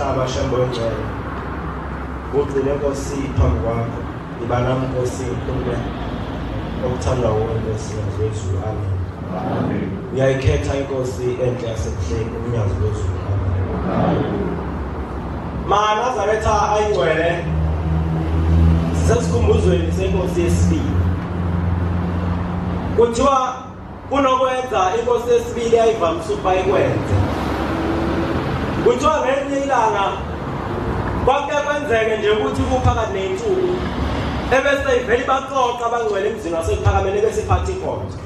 Abashembo ngcwele. Ugcine Nkosi phambi kwakho. Ibala Nkosi kumbe okuthandwa wuwe Nkosi wezulu. Amen. Amen. Uyayikhetha inkosi enhle yasebuhleni umnyazi wezulu. Amen. Mana Zaretha ayingcwele. Sesikumbuzweni senkosi yesibili. Kuthiwa kunokwenza inkosi yesibili yayivamise ukuba ikwenze kuthiwa ngelinye ilanga kwake kwenzeke nje ukuthi kuphakathi ney'nsuku ebese ivele ibaxoxa abangcwele emzini wasekuphakamele bese iphatha inkonzo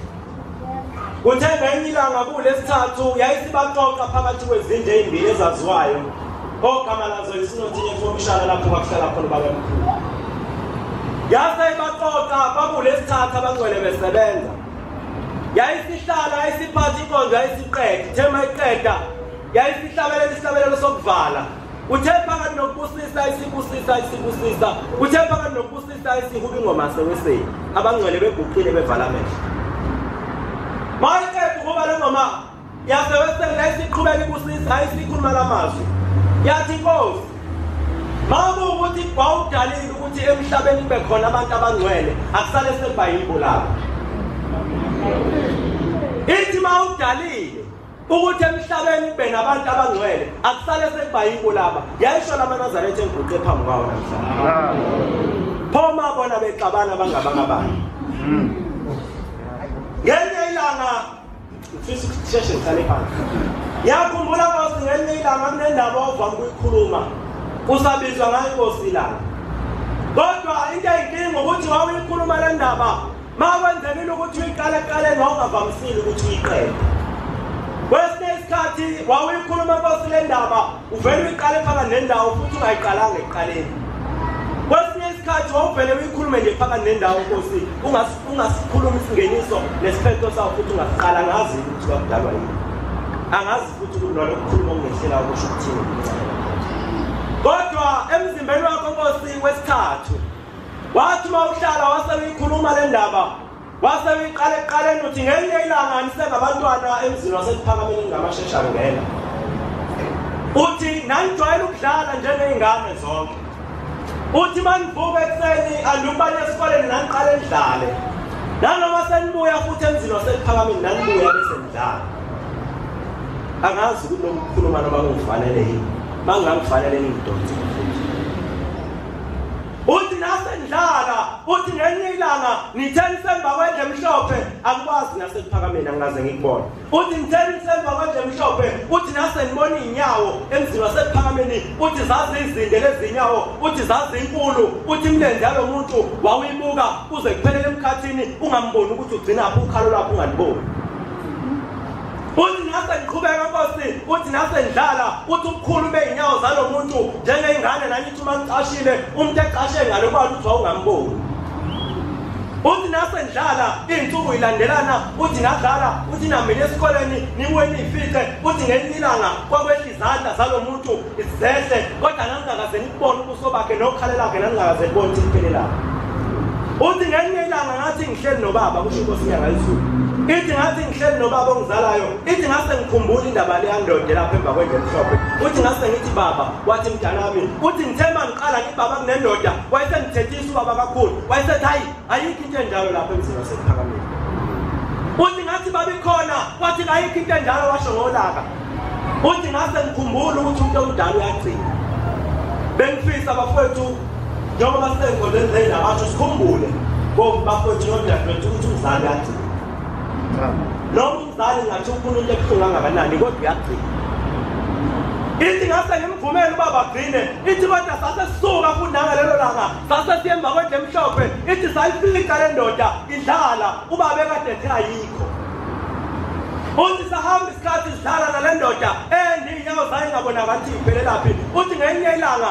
kuthe ngenye ilanga kulesithathu yayisibaxoxa phakathi kwezinto ey'mbili ezaziwayo ogama lazo yisinothinye somshana lapho kwakuhlala khona ubabemkhulu yase ibaxoxa bakulesithathu abangcwele besebenza yayisihlala yayisiphatha inkonzo yayisiqeda ithema iqeda yayisihlabela isihlabelelo sokuvala uthe phakathi nokubusisa isibusisa isibusisa uthe phakathi nokubusisa isihuba ingoma seweseni abangcwele beguqile bevala amehlo mayeqeda ukuba le ngoma yasewesele isiqhubeka ibusisa hayi sikhuluma la mazwi yathi inkosi makuwukuthi wawudalile ukuthi emhlabeni kube khona abantu abangcwele akusale sebhayibho labo ithi mawudalile ukuthi emhlabeni kube nabantu abangcwele akusale sekubhayibho laba yayisho lamanazaretha enguqe phambi kwawo namhlanje pho ma bona bexabana bangabangabani hmm. ngenye ilanga Ngifisa ukuthi sisheshe ngihlale phansi. Ngiyakhumbula Nkosi ngelinye ilanga kunendaba ovama ukuyikhuluma. Kusabizwa ngayo Nkosi ilanga. Kodwa into eyinkinga ukuthi wawuyikhuluma le ndaba ma kwenzekile ukuthi uyiqale eqaleni wawungavamisile ukuthi uyiqede. Kwesinye isikhathi wawuyikhuluma Nkosi le ndaba uvele uyiqale phakathi nendawo futhi ungayiqalanga ekuqaleni kwesinye isikhathi wawuvele uyikhulume nje phakathi nendawo nkosi ungasikhuluma isingeniso nesiphetho sawo futhi ungasiqala angazi ukuthi kwakudalwa yini angazi futhi ukuthi lona kukhuluma okungehlela ukusho ukuthini kodwa emzimbeni wakho nkosi wesithathu wathi uma uhlala wase uyikhuluma le ndaba Wase uyiqala ekuqaleni uthi ngelinye ilanga anisengabantwana emzini wasekuphakameni ngamashesha ngena. Uthi nangijwayele ukudlala njengezingane zonke. Uthi manivuka ekuseni andubane esikoleni nangiqale ndidlale. Nanoma senibuya futhi emzini wasekuphakameni nangibuya bese ngidlala. Angazi ukuthi lokukhuluma noma kungifanele yini. Mangangifanele ngidonse. uthi nasendlala uthi ngenye ilanga ngitheni semba kwendle emhlophe akukwazi nasekuphakameni angikaze ngikubona uthi ngitheni semba kwendle emhlophe uthi nasendibona iy'nyawo emzini wasekuphakameni uthi zazizinde lezi nyawo uthi zazinkulu uthi imilenze yalo muntu wawuyibuka uze kuphelele emkhathini ungamboni ukuthi ugcinaphi ukhalo lwakho ungaliboni uthi nase ngiqhubeka nkosi uthi nase ndlala uthi ubukhulu bey'nyawo zalo muntu njengey'ngane nanye uma ngicashile umuntu ecashe ngalo kuba ukuthi wawungamboni uthi nasendlala iy'nsuku yilandelana uthi nadlala uthi namile esikoleni nibuye niyifice uthi ngelinye ilanga kwakwehla izandla zalo muntu zehle kodwa naningakaze nikubone ubuso bakhe nokhala lakhe naningakaze kubone ukuthi liphelelaphi uthi ngelinye ilanga ngathi ngihleli nobaba kusho inkosi inyanga izulu ithi ngathi ngihleli nobaba ongizalayo ithi ngase ngikhumbula indaba leyandoda lapha emva kwendlela emhlophe uthi ngase ngithi baba wathi mdala wami uthi ngithe uma ngiqala ngibaba kunendoda wayesengithethisa ubaba kakhulu wayesethi hayi ayikho into enjalo lapho emzini wasekuphakamile uthi ngathi babikhona wathi kayikho into enjalo washo ngolaka uthi ngase ngikhumbula ukuthi umuntu omdala uyagcina bengifisa bafowethu njengoba sisenkondweni lena basho sikhumbule bafowethu nodadewethu ukuthi umzali uyagcina Sali ngathi ufuna into ebuhlungu angakanani kodwa uyagcina. Ithi ngase ngimvumele ubaba Grine, ithi kodwa sase sisuka fundanga lelo langa, sase siyemba kwendle emhlophe, ithi sayifika le ndoda idlala ubaba ekade ethi ayikho. Uthi sahamba isikhathi sidlala nale ndoda endi inyawo zayo ingabonakala ukuthi iphelelaphi. Uthi ngenye ilanga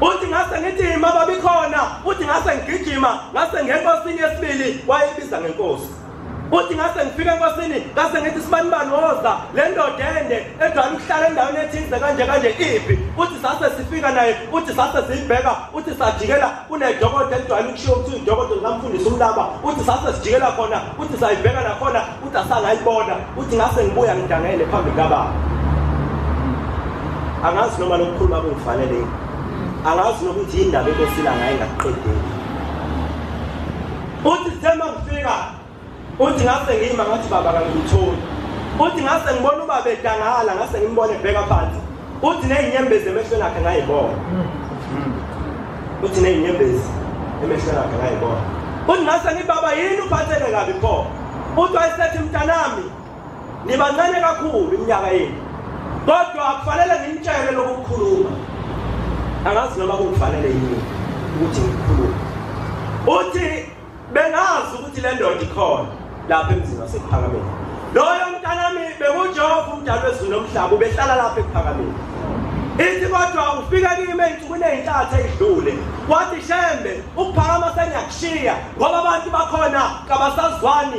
uthi ngase ngithi ma babikhona uthi ngase ngigijima ngase ngenkosini yesibili wayebiza ngenkosi uthi ngase ngifika enkosini ngase ngithi sibani bani woza le ndoda ende edwala ukuhlala endaweni ethize kanje kanje iphi uthi sase sifika naye uthi sase siyibheka uthi sajikela kunedokodo elidwala ukushiya ukuthi udokodo likamfundisa umlaba uthi sase sijikela khona uthi sayibheka nakhona Uthi asangayibona, uthi ngase ngibuya ngidangele phambi kababa. Angazi noma lokukhuluma kungifanele yini. Angazi nokuthi indaba enkosila ngaye ngakuqedeli. Uthi sithemba ngifika. Uthi ngase ngiyima ngathi baba kangitholi. Uthi ngase ngibona ubaba edangala ngase ngimbone ebheka phansi. Uthi nezinyembezi emehlweni akhe ngayibona. Hmm. Uthi nezinyembezi emehlweni akhe ngayibona. Uthi ngase ngibaba yini uphatheke kabi pho? Uthi wayesethi mntanami nibancane kakhulu iminyaka yenu. Kodwa akufanele ngimtshele lokukhuluma. Angazi noma kufanele yini ukuthi ngikhulume. Uthi bengazi ukuthi le ndoda ikhona lapha emzini wasekuphakameni loyo mntanami bekujehova umdala wezulu nomhlaba ubehlala lapha ekuphakameni ithi kodwa ufika kimi ey'nsukwini ey'ntathu ey'dlule wathi shembe ukuphakama sengiyakushiya ngoba abantu bakhona kabasazwani